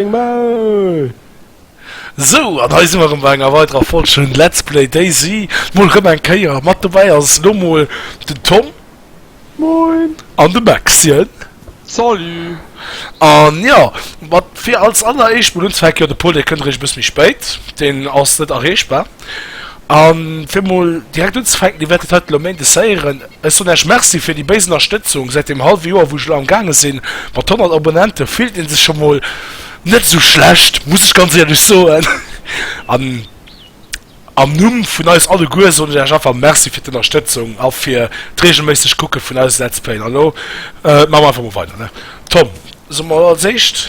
Deng Maul! Sou, an hei si mer erëm bei enger weiderer Folg vun Let's Play Daisy. Mol rëm eng Kéier. Mat dobäi ass elo mol den Tom. Moin! An de Maxchen. Salut! An jo, mat fir als alleréischt mol unzefänken, jo de Paul, dee kënnt eréischt e bësse méi spéit, deen ass net erreechbar. An fir mol direkt unzefänken, Dir wäert et haut elo Méindes héieren, ech soen Äech Merci fir déi béis Ennerstëtzung säit deem hallwe Joer, wou ech elo am gaange sinn. Mat 100 Abonnente fillt ee sech scho mol net esou schlecht, muss ech ganz éierlech soen. An am Numm vun eis alleguer soen ech Äech einfach Merci fir d'Ennerstëtzung a fir d'reegelméisseg Kucke vun eise Let's Playen. An elo maache mer einfach mol weider, ne Tom? Soe mol als éischt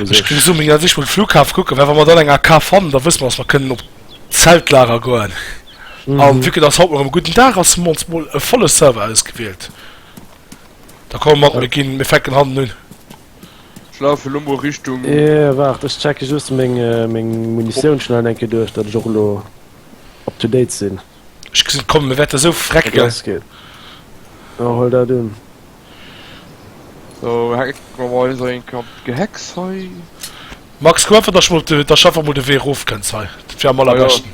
Ech gin esou mega sich mol Flughafen kucken well wann mer dann eng AK fannen da wësse mer dass mer kënnen op Zeltlager goen an vu dass haut erem gudden Dag ass hun mer ons mol e volle Server ausgewielt da komme mat mir gin mir fänken hannen un. Ech lafe lo mol Richtung. Eeh waart ech checke just meng meng Munitioun schnell enke duerch dat ech och lo up to date sin. Ech gesin kommen mir wärte sou frecken. Hol dat un. Max kuck einfach dass mol dass einfach mol de Wee rof kënns hei dat wier am allerbeschten.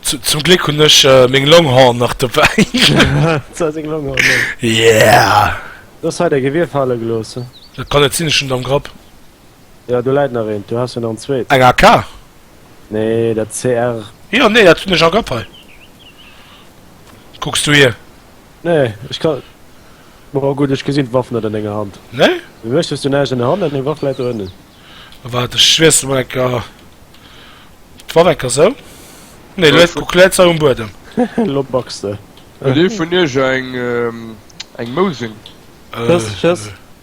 Zum Gléck hunn ech meng Longhorn nach dobäi. Yeah! Dat kann net sinn, ech hunn et am Grapp. Jo, do läit nach eent, do has du nach en zweet. Eng AK? Nee, dat CR. Jo, nee, dat hun ech och op hei. Kucks du hier? Nee, ech kann. Bon, gudd, ech gesin d'Waff net an denger Hand. Nee? Wéi méchs du näischt an der Hand an deng Waff läit do ënnen? Waart, ech wiessle mol enker d'Waff, enker sou. Nee, lo, kuck, läit se um Buedem. Lo backs de. Huet ee vun iech eng Mousing? Just, just.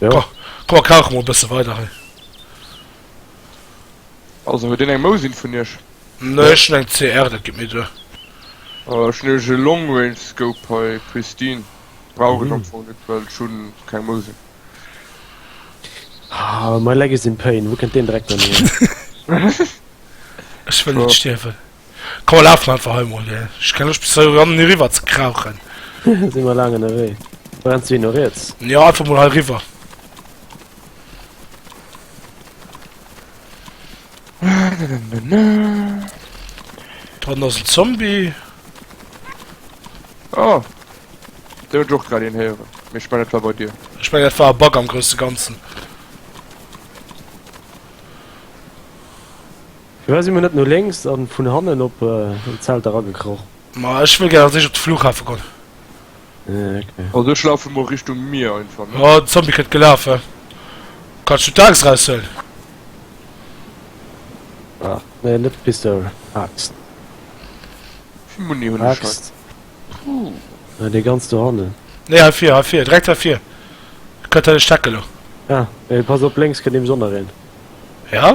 Jo. Komm mer kauche mol e bësse weider hei. Also huet een eng Mousin vun iech? Nee, ech hunn eng CR, dat geet méi duer. Ech hunn nämlech e Long-Range-Scope hei, Pristine. Brauch ech am Fong net, well ech hu keng Mousin. Ah, my leg is in pain, wou kënnt deen Dreck dann hir? Ech wëll net stierwen. Komm mer lafen einfach hei mol hir. Ech kenne lech bis hei erannen hiriwwer ze krauchen. Sinn mer laang ënnerwee. Brennst du hir no riets? Jo, einfach mol hei riwwer. Dran ass en Zombie. Oh. Dee huet och grad een héieren. Mee ech mengen dat war bei dir. Ech mengen dat war e Bug am grousse Ganzen. Firwat si mir net no lénks an vun hannen op den Zelt eragekroch? Ma ech wëll gär als éischt op de Flughafen gon. Also ech laufen mol Richtung Mier einfach ne. Oh den Zombie kënnt gelafe. Kanns du d'Aaxt raus huelen? Ach nee net d'Pistol, Aaxt. Wéi Muni hunn ech hei? Aaxt? Déi ganz do hannen. Nee hei vir, hei vir, direkt hei vir. Kënnt hei de Steck elo. Ah, mee pass op lénks kënnt nemes och nach een. Ja?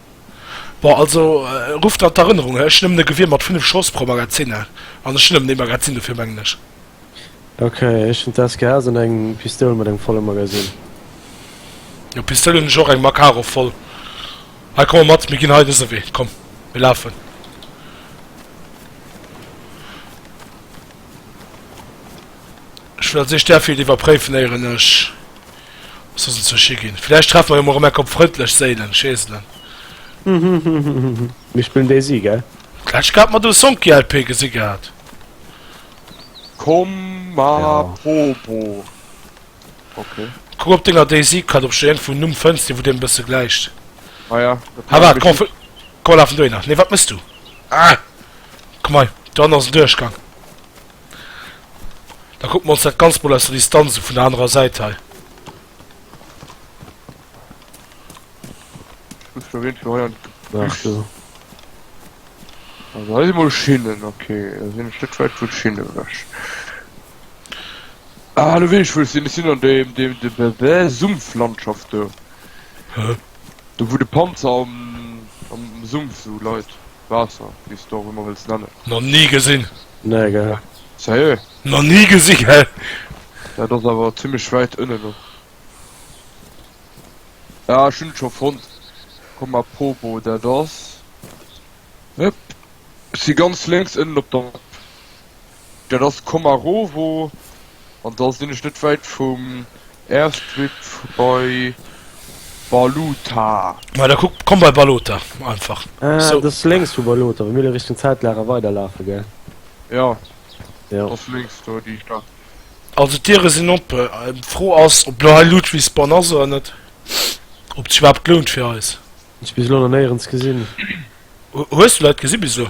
Bon, also rufft an d'Erënnerung, ech hunn nëmmen e Gewier mat 5 Schoss pro Magazin an ech hunn nëmmen ee Magazin, dofir mengen ech. Ok, ech hunn d'SKS an eng Pistoul mat engem volle Magazin. Jo, Pistoul hunn ech och, eng Makarov voll. Hei, komm mer mat, mir ginn hei dëse Wee, komm, mir lafen. Ech wëll als éischt där Field iwwerpréifen, éieren ech. Ech muss zur Schi ginn. Villäicht treffe mer jo mol Remerk op Frëndlech Séilen, Scheeselen. Mir spillen Daisy, gell? D'lescht Kéier hat mer do Sonki LP gesi gehat. Komm ma Popo, ok. Kuck op denger Daisy-Card op scho iergendwou en Numm fënns, dee wou deem e bësse gläicht. Ah ja, dat Ha wart, komm, komm, mir lafen dohinner. Nee, wat mëss du? Ah! Komm hei, do hanne ass en Duerchgang. Da kucke mer ons dat Ganzt mol aus der Distanz u, vun der anerer Säit hei. Ech muss jo iergendwou hei an d'Büsch. Also hei si mol Schinnen, okay. Da sinn ech net wäit vun Schinnen ewech. Ah, elo weess ech wou ech sinn, ech sinn an deem, deem, deem, deem, deem Sumpflandschaft do. Hä? Do wou de Panzer am, am Sumpf esou leit. Waasser, wéi s de och ëmmer wëlls nennen. Nach ni gesinn! Nee, gell? Sérieux? Nach ni gesinn, gell? Dat ass awer zimmlech wäit ënnen och. Ah, ech hunn et scho fonnt! Komm mar Pobo, dat ass, hëpp, si ganz lénks ënnen op der Map. Dat ass Komarovo an da sinn ech net wäit vum Airstrip bei Balota. Ma da kuck, komm bei Balota einfach. Ah, so. das lenks vu Balota, wa mir lo Richtung Zeltlager weiderlafe, gell? Ja. Ja. Dat ass lenks do déi Stad. Also d'Diere sinn op. D'Fro ass, ob lo hei Ludwigsbonn ass oder net. Ob et sech iwwerhaapt lount fir eis. Hunn ech bis elo nach néierens gesinn. Hues du Leit gesi bis elo?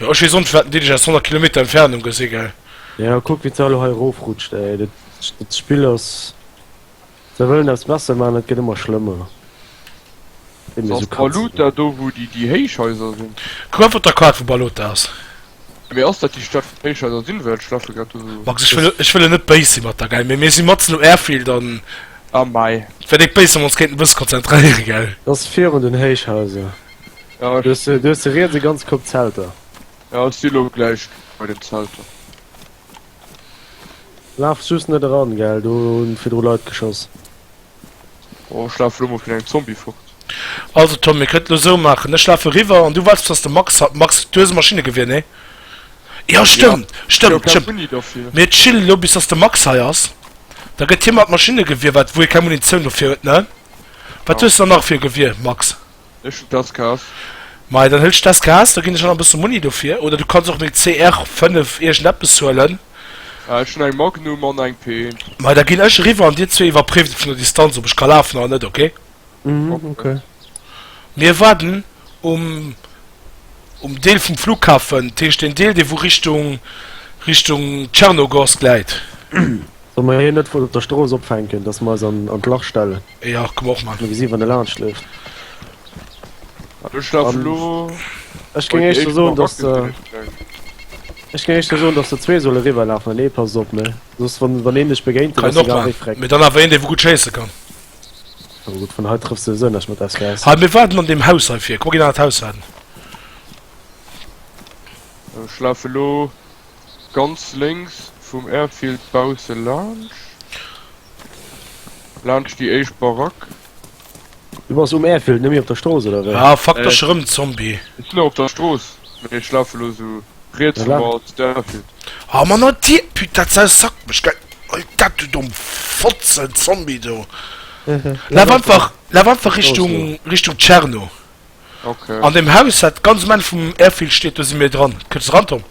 Jo ech wees o net waat den Diddelg ass 100 Kilometer Entfernung gesi gell. Jo kuck wéi d'Sau lo hei rof rutscht ey, dat Spill ass, se wëllen eppes besser man et gëtt ëmmer schlëmmer. Ass dat Balota do wou déi déi Héichhaiser sinn? Kuck einfach op der Kaart wou Balota ass. Mee ass dat déi Stad wou d'Héichhaiser sinn well ech lafe grad do sou. Max ech wëll ech wëll net béis si mat der gell mee mir si matzen um Airfield an et wär déck béis wann mer ons kéinten e bësse konzentréiere gell. Dat ass virun den Héichhaiser. Ja, du hast de riets e ganz Kopp Zelter. Ja, ech si lo gläich bei den Zelter. Laf just net eran, gell, do hunn virdru Leit geschoss. Oh, ech lafe lo mol vun engem Zombie fort. Also Tom, mir kënnten et esou maachen, ech lafe riwwer an du waars bis ass de Max. Max, du hues e Maschinnegewier, nee? Jo, stëmmt, stëmmt, stëmmt. Mir chillen elo bis ass de Max hei ass, da gëtt hie mat Maschinnegewier, wat wou hie keng Munitioun dofir huet, ne? Wat hues de dann nach fir e Gewier, Max? Ech hun das Kaas. Mei dann hëltsch das Kaas, do gin ech awer bëssen Muni dofir. Oder du kanns och meng CR 5 irgendeppes huelen. Ah ech hun eng Magnum an eng Pint. Mei da gin ech eriwwer an dir zwee iwwerpréift et vun der Distanz op ech ka lafen oder net, ok? Mhm ok. Mir warden um um Deel vum Flughafen, dat heescht deen Deel dee wou Richtung Richtung Tschernogorsk läit. Solle mer hien net vun op der Strooss opfänken, dass mer eis an an d'Lach stellen? Ja, komm och mat. Mir gesinn wann e laanscht leeft. Ech lafe lo. Ech géing éischter soen dass de. Ech géing éischter soen dass de zwee solle riwwer lafen an ee passt op ne soss wann wann een dech begéint dann ass e gaaw wéi fréck. Mee dann awer een dee wou gutt schéisse kann. Awer gutt vun hei trëffs de se net mat SKS. Hei mir waarden an deem Haus hei vir. Kuck mol ginn an dat Haus rein. Ech lafe lo. Ganz lénks vum Airfield bausse laanscht, laanscht déi éischt Barack. Du bass um Airfield, net méi op der Strooss oder wéi? Ah fuck, da ech erëm en Zombie. Ech sinn nach op der Strooss, mee ech lafe elo sou riets vum Airfield. Ah man a dir, put dat Sau sackt mech gell. Huel dat du domm Fotzen Zombie do. Laf einfach, laf einfach Richtung, Richtung Tscherno. Ok. An deem Haus dat ganz um Enn vum Airfield steet, do si mir dran. Kënns eran Tom?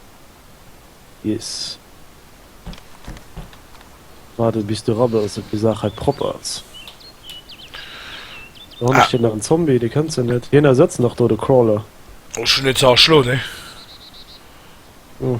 Yes. Waarden bis de ran ass, op déi Saach hei propper ass. Do han ech jo nach en Zombie, dee kënnt se net. Hien ersëtzt nach do de Crawler. Ech hun en ze erschloen, hee. Oh.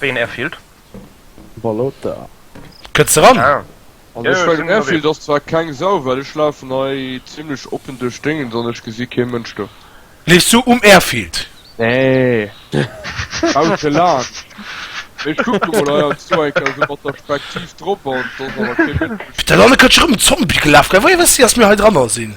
Wéi en Airfield? Balota. Kënns de ran? Ah. Also ech meng den Airfield ass zwar keng Sau, well ech lafen hei zimlech oppen duerch Déngens an ech gesi kee Mënsch do. Leefs du um Airfield? Nee. Bausse laang. Mee ech kucken mol, hei ass do eng Kéier esou mat der Spektiv drop an et ass awer kee Mënsch. Pit, däin Anne kënnt scho rëm um Zombie gelaf, gell? Woier wëss de, datt mir hei dranner sinn?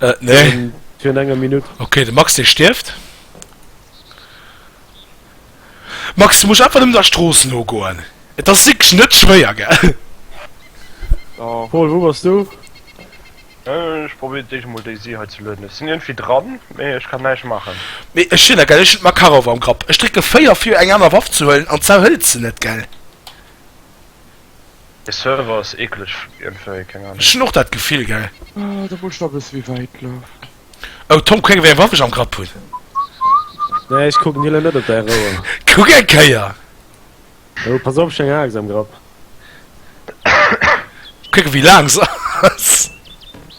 Äh, nee. Fir an enger Minutt. Okay, de Max, dee stierft. Max, du muss einfach um der Stroos no goen. Et ass sikch net schwéier ge. Oh. Paul, wou bass du? Äh, ech probéier déi mol déi si hei ze lueden. Ech sinn iergendwéi dran, mee ech kann näischt maachen. Mee ech sinn egal, ech hunn d'Makarov am Grapp. Ech drécke 4 fir eng aner Waff ze huelen an d'Sau hëlt se net, gell? De Server ass ekeleg iergendwéi, keng Ahnung. Ech hunn och dat Gefill, gell? Ah, do muss ech nach e bësse méi wäit lafen. Oh, Tom, kuck eng, wéi eng Waff ech am Grapp hunn! Nee, ech kucken hie lo net op däi Rouer. Kuck eng Kéier! Oh, pass op, ech hunn eng Aaxt am Grapp. Kuck, wéi laang se ass!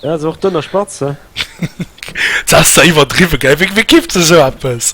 Ja, se och dënn a spatz, he? Dat ass der iwwerdriwwen, gell? Wéi kifft se esou eppes?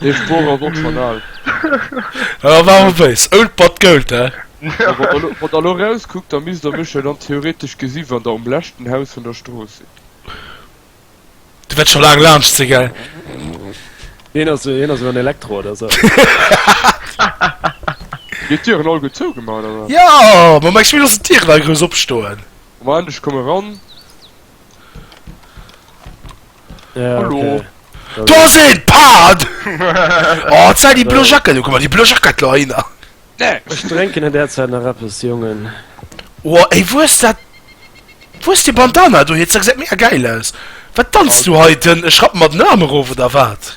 Dee Sprooch ass och schon al. Hör war awer béis, old but gold, hä? Wann der elo erauskuckt, da misst der mech jo dann theoretesch gesi wann der um leschten Haus vun der Strooss sidd. Du wäert scho laang laanscht si gell? Hien ass hien ass en Elektro oder sou. Dir d'Dieren all gutt zougemaach oder wat? Jo, ma meng Schmitt ass d'Dieren all grouss opstoen. Moment ech komme ran. Ja, Hallo. okay. Da Do ass een! Pard! Oh, et sei déi blo Jacket. Oh, guck mal, déi blo Jacket lo hinner. Ech drénken an där Zäit nach eppes, Jongen. Oh, ey, wou ass dat? Wou ass déi Bandana do hir? Dat gesäit mega gäil aus. Wat danzt du hei den? Ech rappen mer den Aarm erof, oder wat?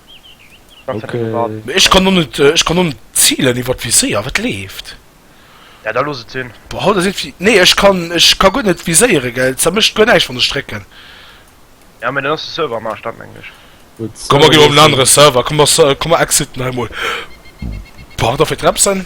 Ech kann och net ech kann och net zielen iwwer d'Viséier, wat leeft? Ja da looss et sinn. Boah haut ass irgendwie, nee ech kann ech ka guer net viséieren gell, et zermécht guer näischt wann ech drécken. Ja mee dann ass de Server am Aarsch, dat mengen ech. Komm mer ginn op en anere Server, komm mer komm mer exiten hei mol. Boah wat ass fir d'Repsen?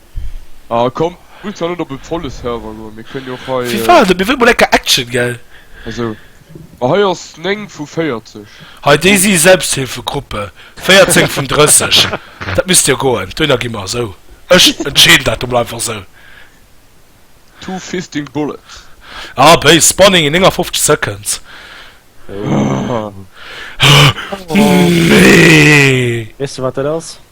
Ah komm, muss da net op e volle Server goen, mir kënnen jo och hei. FIFA, also mir wëllen mol lecker Action, gell? Also, ma hei ass 9 vu 40. Hei, déi si Selbsthilfegruppe 14 vun 30. Dat misst jo goen, duerno gi mer esou. Ech entscheeden dat emol einfach esou. Two fisting bullets. Ah béis, spawning in 59 seconds. Weess de wat dat ass?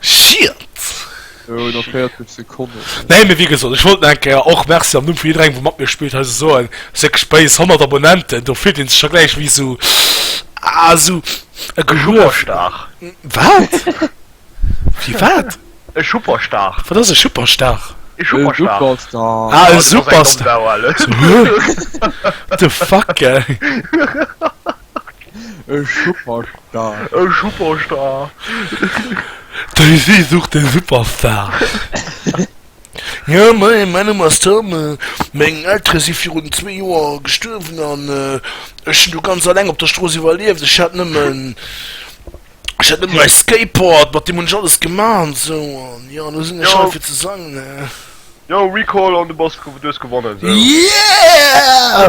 Shit! Jo, nach 40 Sekonnen. Nee, mee wéi gesot, ech wollt nach eng Kéier och Merci am Numm vu jidderengem, dee mat mir spillt, heise soen. Et ass wierklech base, 100 Abonnenten, do fillt ee sech scho gläich wéi esou, ah, esou e Geluechter. Wat? Wéi wat? E Schupperstar. Wat ass e Schupperstar? E Superstar. Ah, e Superstar. What the fuck, ey? E Superstar. E Superstar. Daisy sucht den Superstar. Jo moien, mäin Numm ass Tom. Meng Eltere si virun zwee Joer gestuerwen an ech hunn du ganz alleng op der Strooss iwwerlieft. Ech hat nëmmen ech hat nëmmen mäi Skateboard, mat deem hunn ech alles gemaach an esou an jo, elo sinn ech hei fir ze sangen. Jo, Recall an du bass du hues gewonnen. Yeah!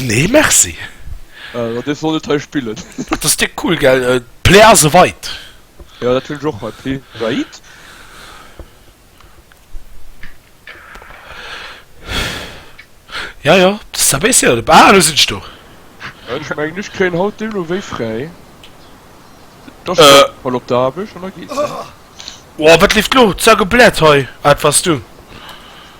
Nee merci. Äh dee soll net hei spillen. Dat ass déck cool gell, d'Play ass eweit. Jo dat hun ech och hei, d'Play ass eweit. Ja jo ça baisse jo, ah do sin ech do. Ech mengen ech kréien haut deemno wéi fräi, da sin ech mol op der Aarbecht an da geet se. Ohh wat leeft lo, Zack a Blät hei, ah et wars du.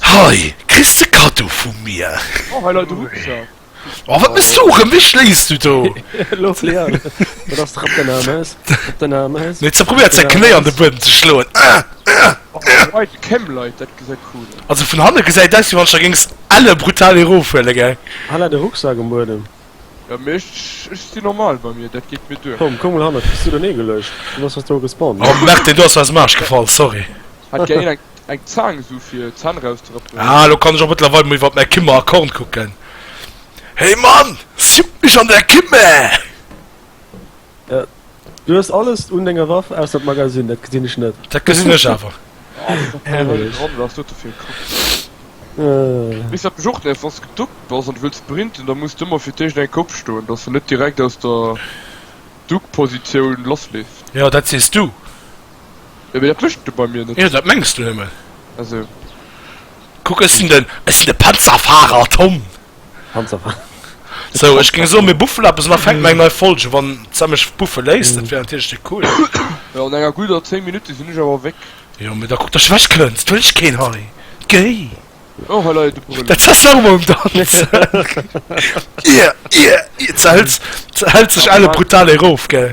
Hei kriss de Kado vu mir. Oh hei leit e Rucksack. Oh wat mechs du? Rëm wéi schléis du do? Wat ass dach op den Ames? Op den Ames? Huet ze probéiert säi Knéi an de Buedem ze schloen. White cam Leit dat gesäit cool aus. Also vun hanne gesäit aus wéi wann ech der géings elle brutal erof huele geng. Hei leit e Rucksack um Buedem. Ja mee ech ech si normal bei mir, dat geet mir duer. Komm komm mol hannert, bist du doné geluecht? Du bass just do gespawnt Oh ne? Merten du ass mir aus dem Aarsch gefall, sorry. Hat gär een eng eng Zaang sou fir Zänn erauszerëppen. Ah elo kann ech och mëttlerweil mol iwwert mäi Kimmer Account kucken. Hey Mann! Siup mech an där Kimme! Du hues alles un denger Waff ausser d'Magazin, dat gesinn ech net. Dat gesinn ech awer. Bis dat bejocht läif ass geduckt bass an wëlls sprinten da muss d'ëmmer fir d'éischt eng Kopp stoen dass se net direkt aus der Duckpositioun lass leeft. Jo dat sees du. Jo mee dat mécht de bei mir net. Jo dat mengs du nëmmen. Also. Kuck ech sinn den ech sinn de Panzerfahrer Tom. Hans a Frank. Sou, ech géing soen, mir buffelen eppes un a fänken eng nei Folge, wann d'Sam mech buffe léisst. Dat wär natierlech déi cool. Jo, an enger gudder 10 Minutte sinn ech awer wéck. Jo, mee da kuck, datt s de wech kënns. Et wëll dech keen hei. Géi! Oh, hei leie de Brëllo. Dat zess de awer mol um Danz. Ier, ier, ier zehält, zehält sech Alan brutal erof, gell?